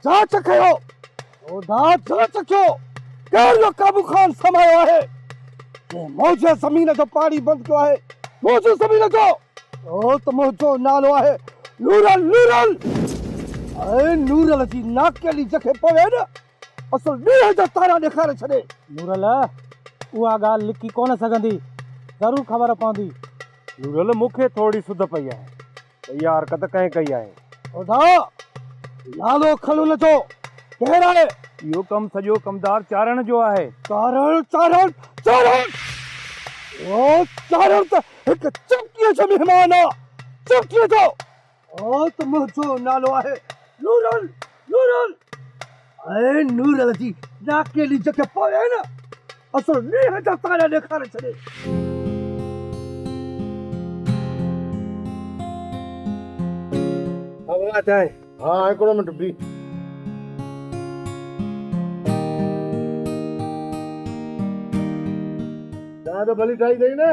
جاچ ڪيو خدا جاچ ڪيو ڪير اهو قابو خان سمايو آهي جنهن موجه زمين جو پاڻي بند ڪيو آهي موجه زمين جو اهو ته منهنجو نالو آهي نورل نورل اي نورل جي ناڪ ڪيلي جکي پوي نه اصل ڏينهن جا تارا ڏيکاري ڇڏي. نورل، اها ڳالهه لڪي ڪونه سگهندي، ضرور خبر پوندي. نورل، مون کي ٿورڙي سڌ پئي آهي ته اها حرڪت ڪنهن ڪئي آهي. خدا، نالو کڻ ان جو، ڪير آهي؟ اهو ڪم سڄو ڪمدار چارڻ جو آهي. چارڻ، چارڻ، چارڻ! اهو چارڻ ته هڪ چمڪيء جو مهمان آهي، چمڪيء جو! اهو ته منهنجو نالو آهي نورل نورل ۽ نورل جي ناڪيلي جيڪي پوء آهي نه اصل مينهن جا تارا ڏيکاري ڇڏي. هوا چانهه ها هڪڙو منٽ بيهه. چانهه ته ڀلي ٺاهي اٿئي نه.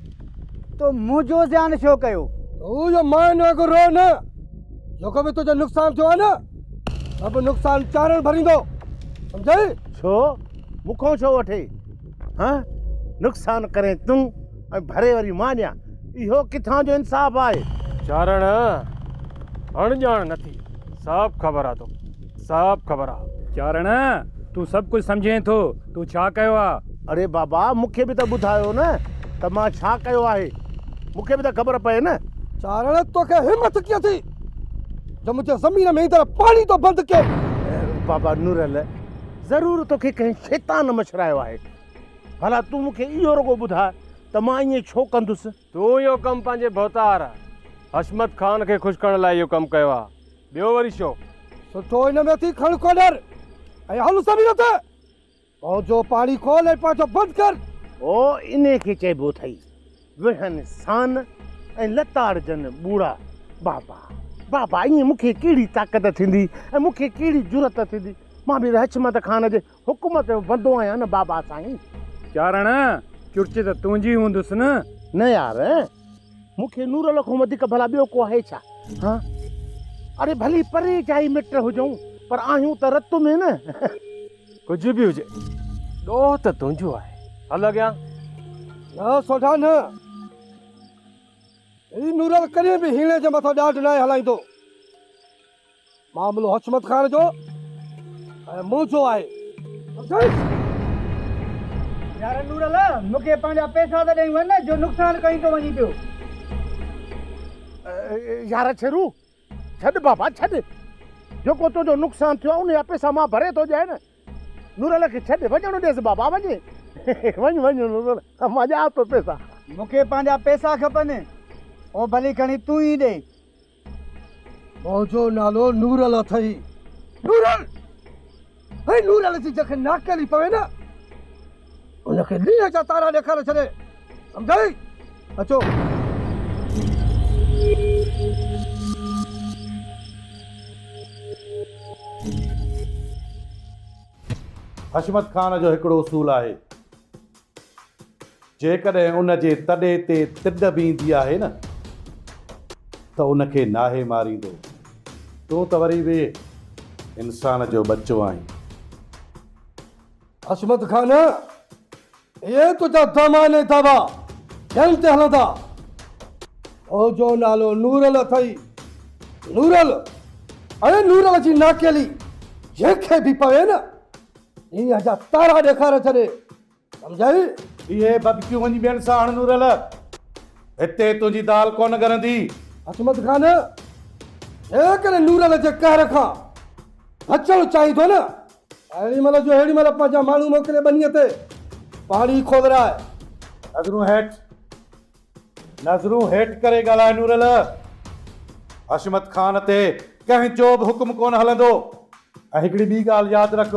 تو مون جو زيان ڇو ڪيو؟ هو جو ماين وانگر روء نه، جيڪو به تنهنجو نقصان ٿيو آهي نه، سڀ نقصان چارڻ ڀريندو، سمجهيئي؟ ڇو؟ مون کان ڇو وٺي؟ ها؟ نقصان ڪرين تون ۽ ڀري وري مان ڏيان، اهو ڪٿان جو انصاف آهي؟ چارڻ اڻڄاڻ نه ٿي، سڀ خبر آهي توکي. صاحب خبر آ. چارڻ تون سڀ ڪجهه سمجهين ٿو تون ڇا ڪيو آ. اڙي بابا مون کي به ته ٻڌايو نه ته مان ڇا ڪيو آهي مون کي به ته خبر پئي نه. چارڻ توکي همٿ ڪيئن ٿي جو منهنجي زمين ۾ ايندڙ پاڻي ٿو بند ڪين. بابا نورل ضرور توکي ڪنهن شيطان مڇرايو آهي ڀلا تون مون کي اهو رڳو ٻڌاء ته مان ائين ڇو ڪندس. تون اهو ڪم پنهنجي ڀوتار حشمت خان کي خوش ڪرڻ لاء اهو ڪم ڪيو آهي. ٻيو وري ڇو؟ سٺو هن ۾ ٿي کڻ ڪوڏر ۽ هل سڀني هٿ پنهنجو پاڻي کول ۽ پنهنجو بند ڪر. او انهي کي چئبو اٿئي ويهن سان ۽ لتاڙجن ٻوڙا بابا بابا ائين مون کي ڪهڙي طاقت ٿيندي ۽ مون کي ڪهڙي جرئت ٿيندي مان به حشمت خان جي حڪومت جو بندو آهيان نه بابا سائين. چارڻ، چرچ ته تنهنجي هوندس نه؟ نه يار، مون کي نورل کان وڌيڪ ڀلا ٻيو ڪو آهي ڇا؟ هان، اڙي ڀلي پري جا ئي مٽ هجون، پر آهيون ته رت ۾ نه. ڪجهه به هجي، ڏوهه ته تنهنجو آهي. هل اڳيان. نه سوڍا نه. هي نورل ڪڏهن به هيڻي جي مٿان ڏاڍ ناهي هلائيندو. معاملو حشمت خان جو ۽ منهنجو آهي. افسوس! يار نور الله، مون کي پنهنجا پئسا ته ڏئي وڃ جو نقصان ڪئين ٿو وڃين پيو. يار ڇيرو، ڇڏ بابا ڇڏ. جيڪو تنهنجو نقصان ٿيو آهي، ان جا پئسا مان ڀري ٿو ڏيانء نه. نور الله کي ڇڏ، وڃڻ ڏيس بابا، وڃ. وڃ وڃ نور الله، مان ڏيانء ٿو پئسا. مون کي پنهنجا پئسا کپن، او ڀلي کڻي تون ئي ڏي. منهنجو نالو نورل اٿئي. نورل! هي نورل جي جنهن کي ناکڪلي پوي نه، ان کي لينهن جا تارا ڏيکاري ڇڏي. سمجهيئي؟ اچو. حشمت خان جو هڪڙو اصول آهي. جيڪڏهن ان جي تڏي تي تڏ به ايندي آهي نه ته ان کي ناهي ماريندو. تون ته وري به انسان جو ٻچو آهين. حشمت خان، اهي تنهنجا دم آهن ۽ دعويٰ ڪن تي هلندا. تو جو نالو نورل اٿئي. نورل، اڙي نورل جي ناکيلي جنهن کي به پوي نه دنيا جا تارا ڏيکاري ڇڏي سمجهيئي. اهي ڀڀڪيون وڃي ٻين سان هڻ نورل. هتي تنهنجي دال ڪونه ڳرندي. حشمت خان جيڪڏهن نورل جي قهر کان بچڻ چاهيندو نه ته اهڙي مهل جو ههڙي مهل پنهنجا ماڻهو موڪلي ٻنيء تي پاڻي کولرائي. نظرون هيٺ. نظرون هيٺ ڪري ڳالهاء نورل! حشمت خان تي ڪنهن جو به حڪم ڪونه هلندو ۽ هڪڙي ٻي ڳالهه ياد رک،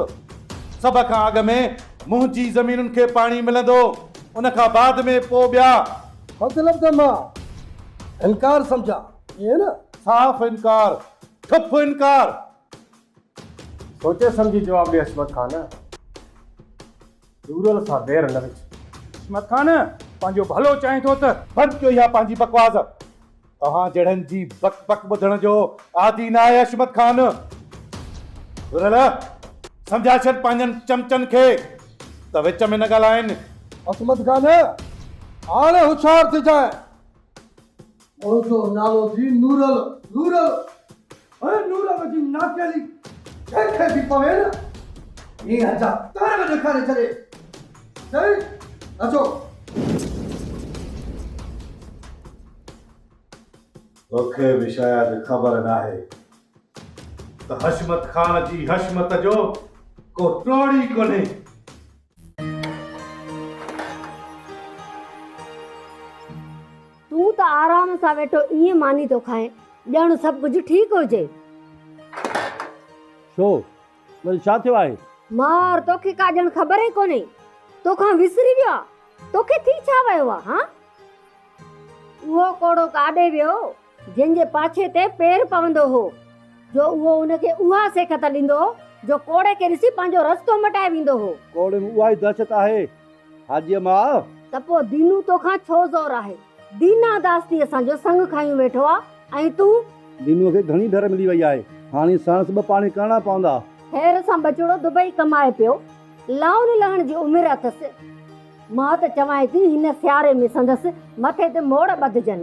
سڀ کان اڳ ۾ منهنجي زمينن کي پاڻي ملندو، ان کان بعد ۾ پوء ٻيا. مطلب ته مان انڪار سمجهان، ائين نه؟ صاف انڪار، ٺپ انڪار! سوچي سمجهي جواب ڏي حشمت خان! رورل سان وير نه وجهه. عصمت خان پنهنجو ڀلو چاهين ٿو ته. بند ڪيو اها پنهنجي بڪواس. توهان جهڙن جي بڪ بڪ ٻڌڻ جو عادي نه آهي عصمت خان. رورل سمجهائي ڇڏ پنهنجن چمچن کي ته وچ ۾ نه ڳالهائين. عصمت خان هاڻي هوشيار ٿجانء. اوچو نالو ٿي نورل نورل هي نورل جي ناکيلي ڇي کي ٿي پوي نه هي هجا تار به ڏيکاري ڇڏي سائين اچو توکي به شايد خبر ناهي ته حشمت خان جي حشمت جو ڪو ٽوڙي ڪونهي تون ته آرام سان ويٺو ائين ماني ٿو کائين ڄڻ سڀ ڪجهه ٺيڪ هجي. ڇو وري ڇا ٿيو آهي؟ مار توکي ڪا ڄڻ خبر ئي ڪونهي توکان وسري ويو آ توکي ٿي ڇا ويو آ هان اهو ڪوڙو ڪاڏي ويو. جنهن جي پاڇي تي پير پوندو هو، جو اهو ان کي اها سيکت ڏيندو هو، جو ڪوڙي کي ڏسي پنهنجو رستو مٽائي ويندو هو. ڪوڙي ۾ اها ئي دهشت آهي، حاجيء ماء! ته پوء دينو توکان ڇو زور آهي؟ دينا داستي اسان جو سڱ کنيون ويٺو آ ۽ تون. دينوء کي گهڻي ڍر ملي وئي آهي، هاڻي ساڻس ٻه پاڻي ڪرڻا پوندا. خير سان ٻچڙو دبئي ڪمائي پيو، لائون لهڻ جي عمر اٿس. مان ته چوانء ٿي، هن سياري ۾ سندس مٿي تي موڙ ٻڌجن.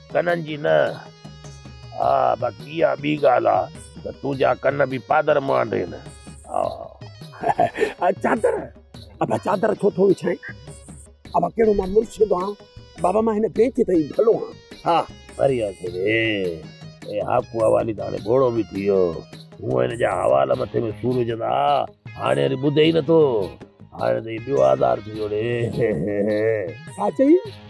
ڪنن جي نه، آء باقي اها ٻي ڳالهه آ ته تنهنجا ڪن به پادر مانڊين، آء. چادر، ابا چادر ڇو ٿو وڇائين؟ ابا ڪهڙو مان مرشد آهيان، بابا مان هن بينچ تي ئي ڀلو آهيان، آء. پريان کي به اي هاڪو حوالي ته هاڻي ٻوڙو به ٿي ويو، هونء هن جا حوال مٿي ۾ سور وجهندا ها، هاڻي وري ٻڌي ئي نٿو، هاڻي ته هي ٻيو آزار ٿي ويو ڙي. ڇا چيائين؟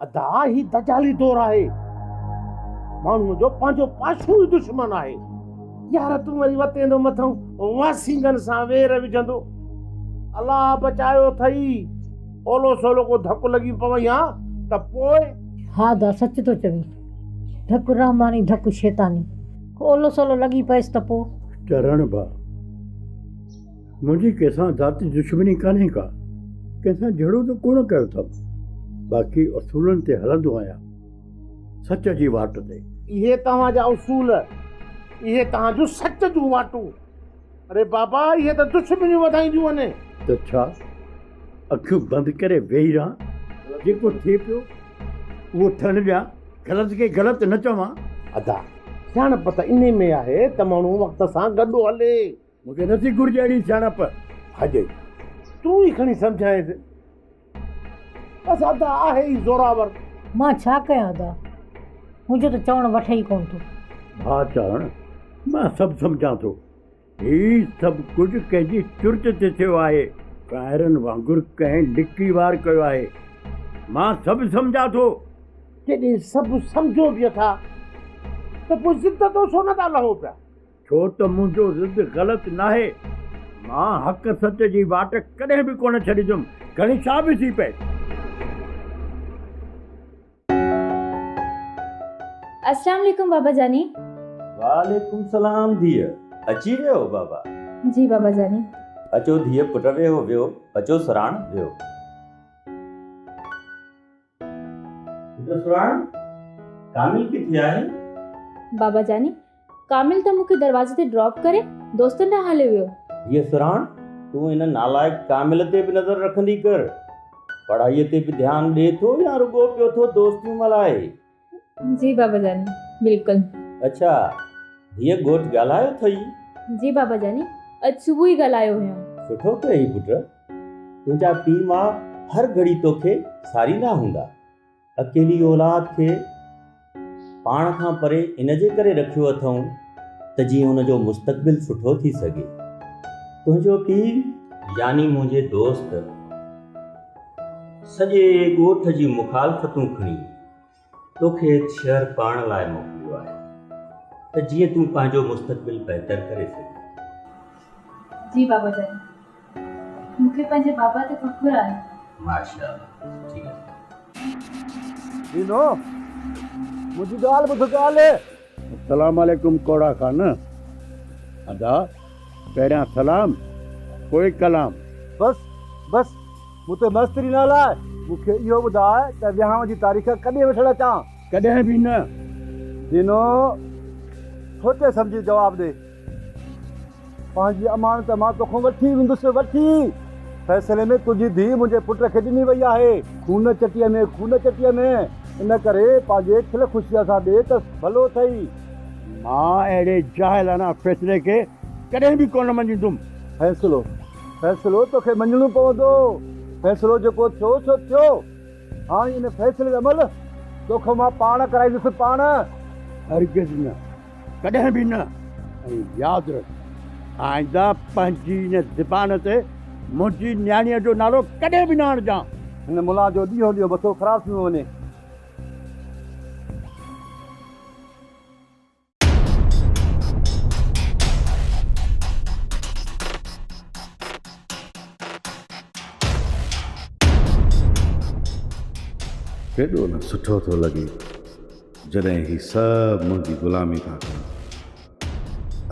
ادا هي دجالي دور آهي ماڻهو جو پنهنجو پاشو ئي دشمن آهي يار تون وري وتيندو مٿئون واسينگن سان وير وجهندو الله بچايو ٿئي اولو سولو ڪو ڌڪ لڳي پوي ها ته پوء ها ادا سچ ٿو چوين ڌڪ رحماني ڌڪ شيطاني ڪو اولو سولو لڳي پيس ته پوء. چرڻ ڀا. منهنجي ڪنهن سان ذاتي دشمني ڪانهي ڪا، ڪنهن سان جهيڙو ته ڪونه ڪيو اٿم، باقي اصولن تي هلندو آهيان، سچ جي واٽ تي. اهي توهان جا اصول، اهي توهان جون سچ جون واٽون، اڙي بابا اهي ته دشمنيون وڌائينديون وڃن. ته ڇا اکيون بند ڪري ويهي رهان، جيڪو ٿئي پيو اهو ٿيڻ ڏيان، غلط کي غلط نه چوان. ادا سياڻپ ته انهي ۾ آهي ته ماڻهو وقت سان گڏ هلي. مون کي نٿي گهرجي اهڙي سياڻپ هجي. تون ئي کڻي سمجهائينس. بس ادا آهي ئي زوراور. مان ڇا ڪيان ادا. هن جو ته چوڻ وٺي ئي ڪونه ٿو. ڀاء چاڙهڻ، مان سڀ سمجهان ٿو. هي سڀ ڪجهه ڪنهن جي چرچ تي ٿيو آهي. ڪائرن وانگر ڪنهن لڪي وار ڪيو آهي. مان سڀ سمجهان ٿو. جڏهن سڀ سمجهو به اٿا ته پوء ضد تان ڇو نه ٿا لهو پيا. ڇو ته منهنجو ضد غلط ناهي. مان حق سچ جي واٽ ڪڏهن به ڪونه ڇڏيندم، گهڻي ڇا به ٿي پئي. اسلام عليڪم بابا جاني. وعليڪم سلام ڌيء اچي ويو بابا. جي بابا جاني. اچو ڌيء پٽ ويهو ويهو اچو سراڻ ويهو. پٽ سرهاڻ ڪامل ڪٿي آهي؟ بابا جاني ڪامل ته مون کي دروازي تي ڊراپ ڪري دوستن ڏانهن هليو ويو. ڌيء سرهاڻ تون ان نالائق ڪامل تي به نظر رکندي ڪر. پڙهائيء تي به ڌيان ڏي ٿو يا رڳو پيو ٿو دوستيون ملهائي. جي بابا جاني بلڪل. اڇا ڌيء ڳوٺ ڳالهايو ٿئي. جي بابا جاني اڄ صبح ئي ڳالهايو هيم. سٺو ڪيئي پٽ تنهنجا پي ماء هر گهڙي توکي ساريندا هوندا اڪيلي اولاد کي پاڻ کان پري ان جي ڪري رکيو اٿئون ته جيئن ان جو مستقبل سٺو ٿي سگهي تنهنجو پي يعني منهنجي دوست سڄي ڳوٺ جي مخالفتون کڻي. تو کي هت شهر پاڻ لاء موڪليو آهي ته جيئن تون پنهنجو مستقبل بهتر ڪري سگهين. جي بابا جان مون کي پنهنجي بابا تي فخر آهي. ماشاء الله ٺيڪ آهي. ڏينو منهنجي ڳالهه ٻڌ ڳالهه. سلام عليڪم ڪوڙا خان ادا پهريان سلام پوء ڪلام. بس بس مون تي ماستري نه هلاء مون کي اهو ٻڌاء ته ويهانء جي تاريخ ڪڏهن وٺڻ اچان؟ ڪڏهن به نه ڏنو سوچي سمجهي جواب ڏي. پنهنجي امانت مان توکان وٺي ويندس وٺي. فيصلي ۾ تنهنجي ڌيء منهنجي پٽ کي ڏني وئي آهي. خون چٽيء ۾ خون چٽيء ۾، ان ڪري پنهنجي کل خوشيء سان ڏي ته ڀلو اٿئي. مان اهڙي جاهلانه فيصلي کي ڪڏهن به ڪونه مڃيندم. فيصلو، فيصلو توکي مڃڻو پوندو. فيصلو جيڪو ٿيو سو ٿيو. هاڻ ان فيصلي جو عمل توکان مان پاڻ ڪرائيندس، پاڻ. هرگز نه. ڪڏهن به نه ۽ ياد رک آئنده پنهنجي ان زبان تي منهنجي نياڻيء جو نالو ڪڏهن به نه آڻجان. هن ملا جو ڏينهون ڏينهن مٿو خراب ٿيندو وڃي. ڪيڏو نه سٺو ٿو لڳي. جڏهن هي سڀ منهنجي غلامي ٿا ڪن،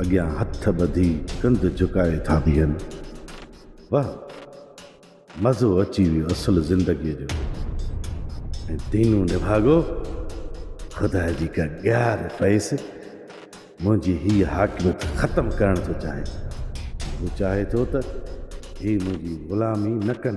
اڳيان هٿ ٻڌي ڪنڌ جهڪائي ٿا بيهن. واه! مزو اچي ويو اصل زندگيء جو. ۽ دينو نڀاڳو، خدا جي ڪا ڳار پئيس، منهنجي هيء حاڪميت ختم ڪرڻ ٿو چاهي. هو چاهي ٿو ته هي منهنجي غلامي نه ڪن.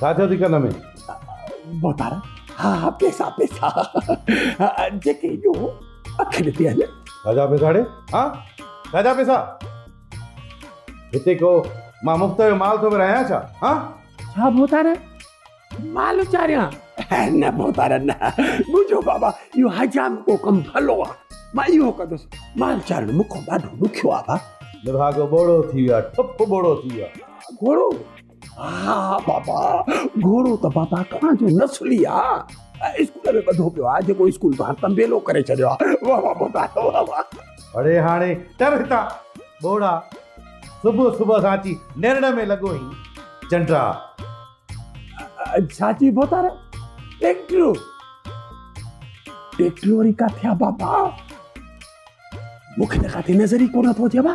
ڇا ٿيو ٿي ڪن ۾ محتارم ها ها پيسا پيسا جيڪي ايڏو اکين تي هلن ڇاجا پيسا ڙي ها ڇاجا پيسا هتي ڪو مان مفت جو مال ٿو ورهايان ڇا ها ڇا محتارم مال اچاريان نه محتارم نه منهنجو بابا اهو حجام ڪو ڪم ڀلو آ مان اهو ڪندس مال چارڻ مون کان ڏاڍو ڏکيو آ با نڀاڳو ٻوڙو ٿي ويو آ ٺپ ٻوڙو ٿي ويو آ ٻوڙو ها ها بابا گهوڙو ته بابا توهان جو نسلي آ اسڪول ۾ ٻڌو پيو آ جيڪو اسڪول توهان تنبيلو ڪري ڇڏيو آ واه واه بابا واه واه اڙي هاڻي ٽر هتان ٻوڙا صبح صبح سان اچي نرڙ ۾ لڳو هين چنڊا ڇا چئبو تار ٽيڪٽرو ٽيڪٽرو وري ڪاٿي آ بابا مونکي ته ڪاٿي نظر ئي ڪونه ٿو اچي بابا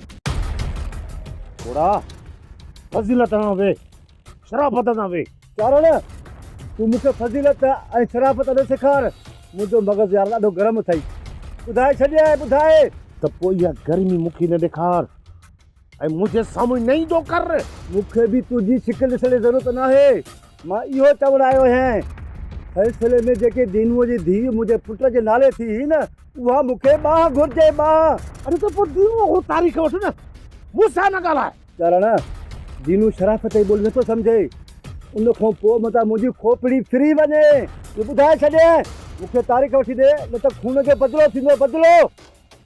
گھوڙا فضيلت ڏانهن ويهه شرافت سان ويهه. چارڻ تون مون کي فضيلت ۽ شرافت اڏو سيکار منهنجو مغز يار ڏاڍو گرم اٿئي ٻڌائي ڇڏيائين ٻڌائي. ته پوء اها گرمي مون کي نه ڏيکار ۽ منهنجي سامهون نه ايندو ڪر. مون کي به تنهنجي شڪل ڏسڻ جي ضرورت ناهي. مان اهو چوڻ آيو آهيان، فيصلي ۾ جيڪي دينوء جي ڌيء منهنجي پٽ جي نالي ٿي هئي نه، اها مون کي ٻانهن گهرجي، ٻانهن! اڙي ته پوء دينوء کان تاريخ وٺ نه، مون سان نه ڳالهاء. ڳالهاڻا، دينو شرافت جي ٻولي نٿو سمجهي، ان کان پوء متان منهنجي کوپڙي ڦري وڃي. ٻڌائي ڇڏينء، مون کي تاريخ وٺي ڏي، نه ته خون جو بدلو ٿيندو، بدلو!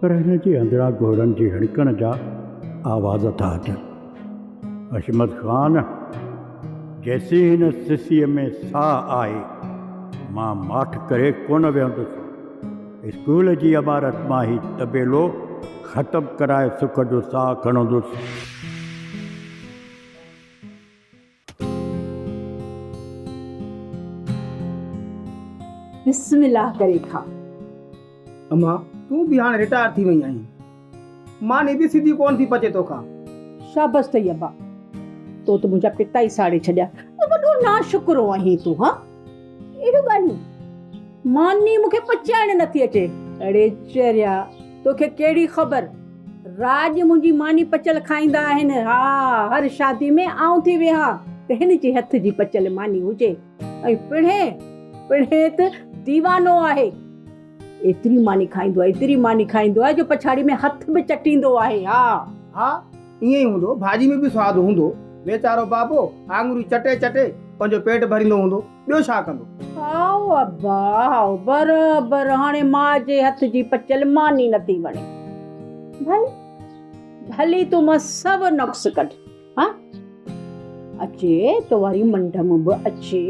پر هن جي اندران گهوڙن جي هڻڪڻ جا آواز ٿا اچن. حشمت خان، جيسين هن سسيء ۾ ساهه آهي، مان ماٺ ڪري ڪونه ويهندس. اسڪول جي عمارت مان هي طبيلو ختم ڪرائي سک جو ساهه کڻندس. بسم الله ڪري کاء. اما تون به هاڻ رٽائر ٿي وئي آهين. ماني به سڌي ڪونه ٿي پچي توکان. شابس اٿئي ابا. تو ته منهنجا پتا ئي ساڙي ڇڏيا. وڏو ناشڪرو آهين تون. اهڙيون ڳالهيون ماني مون کي پچائڻ نٿي اچي. اڙي چريا توکي ڪهڙي خبر راڄ منهنجي ماني پچل کائيندا آهن ها هر شادي ۾ آئون ٿي ويهان ته هن جي هٿ جي پچل ماني هجي ۽ پڙهي پڙهي ته ديوانو آهي ايتري ماني کائيندو آهي ايتري ماني کائيندو آهي جو پڇاڙي ۾ هٿ به چٽيندو آهي ها ها. ائين ئي هوندو، ڀاڄي ۾ به سواد هوندو. ويچارو بابو آڱريون چٽي چٽي پنهنجو پيٽ ڀريندو هوندو، ٻيو ڇا ڪندو؟ هائو ابا، هائو برابر هاڻي ماء جي هٿ جي پچيل ماني نه ٿي وڻي. ڀلي، ڀلي تون مان سو نقص ڪڍ ها. اچي تو واري منڍ م به اچي،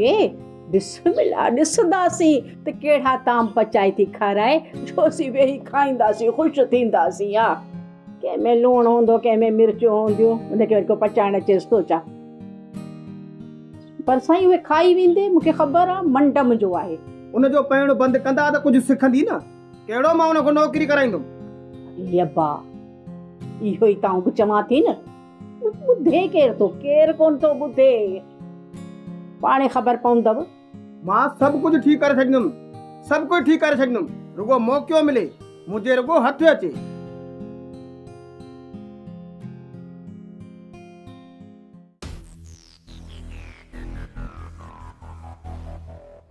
بسم الله ڏسنداسين ته ڪهڙا طعام پچائي ٿي کارائي، جو اسين ويهي کائينداسين، خوش ٿينداسين ها. ڪنهن ۾ لوڻ هوندو ڪنهن ۾ مرچون هونديون ان کي وري ڪو پچائڻ اچيس ٿو ڇا؟ پر سائين اهي کائي ويندي مون کي خبر آ منڊ منهنجو آهي. ان جو پيئڻ بند ڪندا ته ڪجهه سکندي نه. ڪهڙو مان ان کان نوڪري ڪرائيندم. علي ابا اهو ئي ته آئون به چوان ٿي نه. ٻڌي ڪير ٿو ڪير ڪونه ٿو ٻڌي. پاڻهي خبر پوندو. مان سڀ ڪجهه ٺيڪ ڪري ڇڏيندم، سڀ ڪجهه ٺيڪ ڪري ڇڏيندم، رڳو موقعو ملي، منهنجي رڳو هٿ اچي.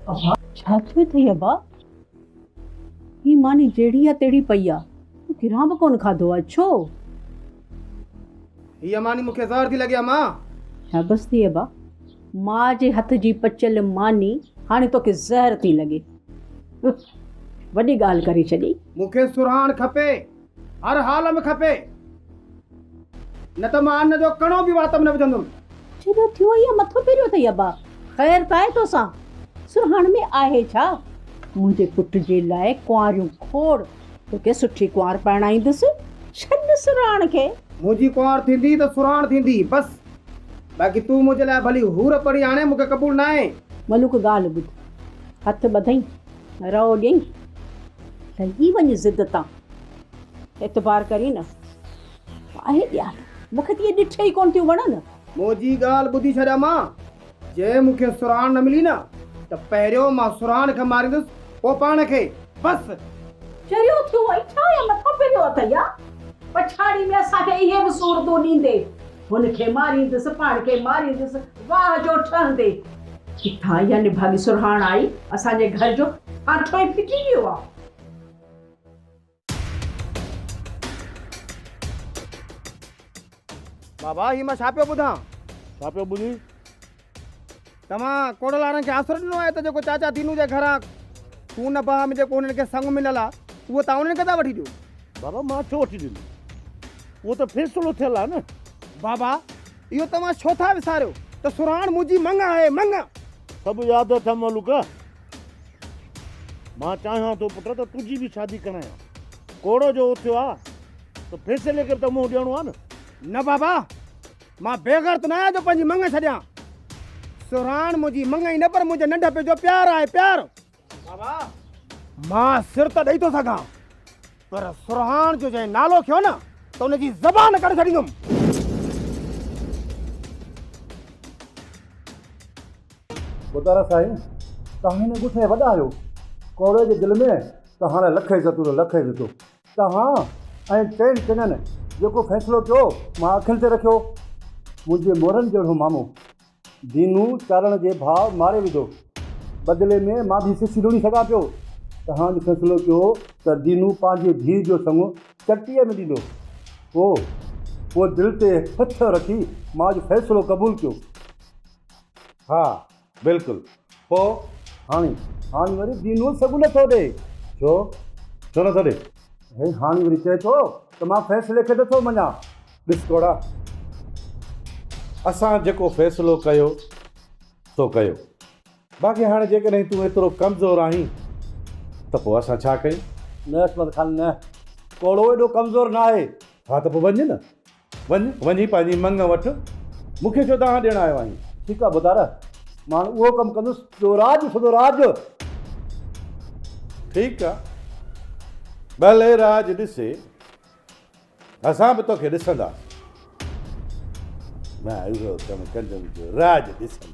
ابا، ڇا ٿيو اٿئي ابا؟ هي ماني جهڙي آ تهڙي پئي آ، تو گرهان به ڪونه کاڌو آ، ڇو؟ هيء ماني مون کي زهر ٿي لڳي اما. شابس ٿي ابا. ماء جي هٿ جي پچيل ماني هاڻي توکي زهر ٿي لڳي. وڏي ڳالهه ڪري ڇڏي. مون کي سرهاڻ کپي. هر حال ۾ کپي. نه ته مان ان جو ڪڻو به وات ۾ نه وجهندم. جيڏو ٿيو هيء مٿو ڦيريو اٿئي ابا. خير ته آهي توسان. سرهاڻ ۾ آهي ڇا؟ منهنجي پٽ جي لاء ڪنواريون کوڙ. توکي سٺي ڪنوار پرڻائيندس. ڇڏ سرهاڻ کي. منهنجي ڪنوار ٿيندي ته سرهاڻ ٿيندي بس. باقي تون منهنجي لاء ڀلي حور پري آڻي مون کي قبول ناهي. ملوڪ ڳالهه ٻڌ. هٿ ٻڌئين رئو ڏيئين. لهي وڃ ضد تان. اعتبار ڪرين نه آهي ڏيال. مون کي ته اهي ڏٺ ئي ڪونه ٿيون وڻن. منهنجي ڳالهه ٻڌي ڇڏ امان. جي مون کي سرهاڻ نه ملي نه ته پهريون مان سرهاڻ کي ماريندس پوء پاڻ کي. بس! چريو ٿيو ۽ ڇا يا مٿو پيريو اٿئي يا پڇاڙي ۾ اسان کي اهي به صورتون ڏيندي هن کي ماريندس پاڻ کي ماريندس واهه جو ٺهندي ڪٿان اها نڀاڳي سرهاڻ آئي اسان جي گهر جو ڦاٿو ئي ڦٽي ويو آ. بابا هي مان ڇا پيو ٻڌان؟ ڇا پيو ٻڌين؟ توهان ڪوڙل وارن کي آسرو ڏنو آهي ته جيڪو چاچا دينو جي گهران خون بها ۾ جيڪو هنن کي سڱ مليل آهي اهو توهان انهن کي ٿا وٺي ڏيو بابا مان ڇو وٺي ڏيندس اهو ته فيصلو ٿيل آهي نه بابا اهو توهان ڇو ٿا وساريو ته سرهاڻ منهنجي مڱ آهي مڱ سڀ ياد اٿم ملوڪ مان چاهيان ٿو پٽ ته تنهنجي به شادي ڪرايان. ڪوڙو جو اٿيو آ ته فيصلي کي به ته منهن ڏيڻو آ نه. نه بابا، مان بيغرت نه آهيان جو پنهنجي مڱ ڇڏيان. سرهاڻ منهنجي مڱ ئي نه پر منهنجي ننڍپي جو پيار آهي، پيار. بابا، مان سر ته ڏئي ٿو سگهان پر سرهاڻ جو جنهن نالو کيو نه ته ان جي زبان ڪڍي ڇڏيندم ٻڌارا سائين تان هن ڳوٺ جا وڏا آهيو ڪوري جي دل ۾ ته هاڻي لک عزتون اٿو لک عزتون توهان ۽ ٽن ٽنن جيڪو فيصلو ڪيو مان اکين تي رکيو منهنجي مورن جهڙو مامو دينو چارڻ جي ڀاء ماري وڌو. بدلي ۾ مان به سسي لوڻي سگهان پيو. چهانج فيصلو ڪيو ته دينو پنهنجي ڌيء جو سڱو چٽيء ۾ ڏيندو. پوء پوء دل تي هٿ رکي ماج فيصلو قبول ڪيو. ها بلڪل. پوء هاڻي هاڻي وري دينول سگهه نه ٿو ڏئي. ڇو؟ ڇو نه ٿو ڏئي؟ هي هاڻي وري چئي ٿو ته مان فيصلي کي نه ٿو مڃان. ڏس ڪوڙا، اسان جيڪو فيصلو ڪيو سو ڪيو، باقي هاڻي جيڪڏهن تون ايترو ڪمزور آهين ته پوء اسان ڇا ڪيون؟ نه عصمت خان نه، ڪوڙو ايڏو ڪمزور ناهي. ها ته پوء وڃ نه، وڃ، وڃي پنهنجي مڱ وٺ، مون کي ڇو دانهن ڏيڻ آيو آهين؟ ٺيڪ آهي ڀوتار، مان اهو ڪم ڪندس، جو راڄ سڌو راڄ. ٺيڪ آهي، ڀلي راڄ ڏسي، اسان به توکي ڏسنداسين. مان اهو ڪم ڪندم، جو راڄ ڏسنداسين.